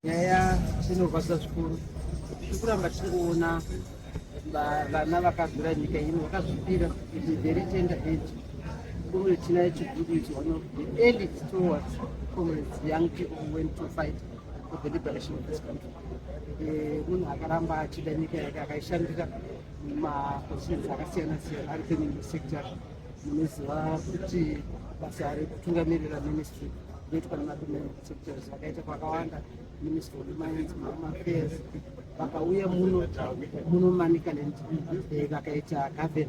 Nyaya inorwadza zvikuru, tiri kuramba tichiona vana vakazvira nyika ino vakazvipira kuti very tender age kumwe tina chiguru is one of the early stewards comrades young people who went to fight for the liberation of this country eh, munhu akaramba achida nyika yake akaishandira mapositions akasiyana siyana ari penyimwe sector munoziva kuti basa rekutungamirira ministry ndoitwa nemadomeni zvakaita kwakawanda ministry of mines home affairs vakauya muno muno manicaland eh, vakaita gaven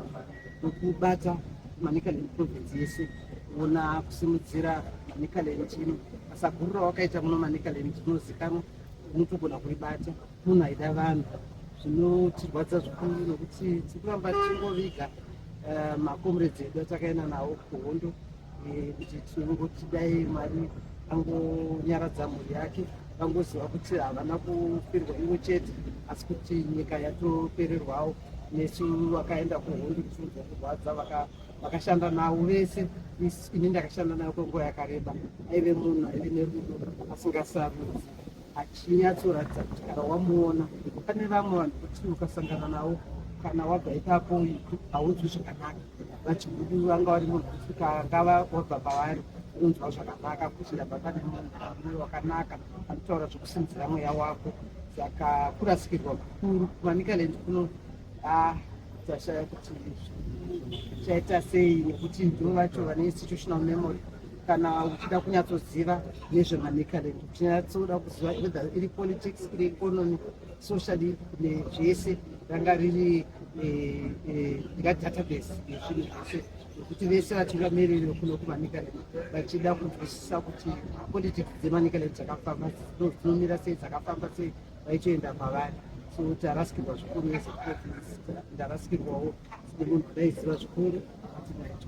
wekubata manicaland province yese kuona kusimudzira manicaland chino basa guru rawakaita muno manicaland chinozikanwa unotogona kuibata munhu aida vanhu zvinotirwadza zvikuru nokuti tiri kuramba tichingoviga eh, macomrades edu atakaenda nawo kuhondo eh, kuti tingoti dai mwari angonyaradza mhuri yake vangoziva kuti havana kufirwa ivo chete asi kuti nyika yatopererwawo nesu vakaenda kuhondo tichiudza kurwadza vakashanda navo vese ini ndakashanda nayo kwenguva yakareba aive munhu aive nerudo asingasarudzi achinyatsoratidza kuti kana wamuona pane vamwe vanhu kuti ukasangana navo kana wabva ipapo haudzwi zvakanaka vachiguduru vanga vari mugusika vangava vabva pavari unonzwa zvakanaka kuti ndabva pane mumwe wakanaka anotaura zvekusimudzira mweya wako saka kurasikirwa kukuru kumanicaland kuno ah, tashaya kuti chaita sei nekuti ndo vacho vane institutional memory kana uchida kunyatsoziva nezvemanicaland uchinyatsoda kuziva whether iri politics iri economy socially nezvese ranga riri eh, eh, database nezvinhu zvese nekuti vese vati vamereri vekuno kumanikaleti vachida kunzwisisa kuti politics dzemanikaleti dzakafamba dzinomira sei dzakafamba sei vaitoenda mavari so tarasikirwa zvikuru ezekuofiisi ndarasikirwawo sine munhu daiziva zvikuru atinaito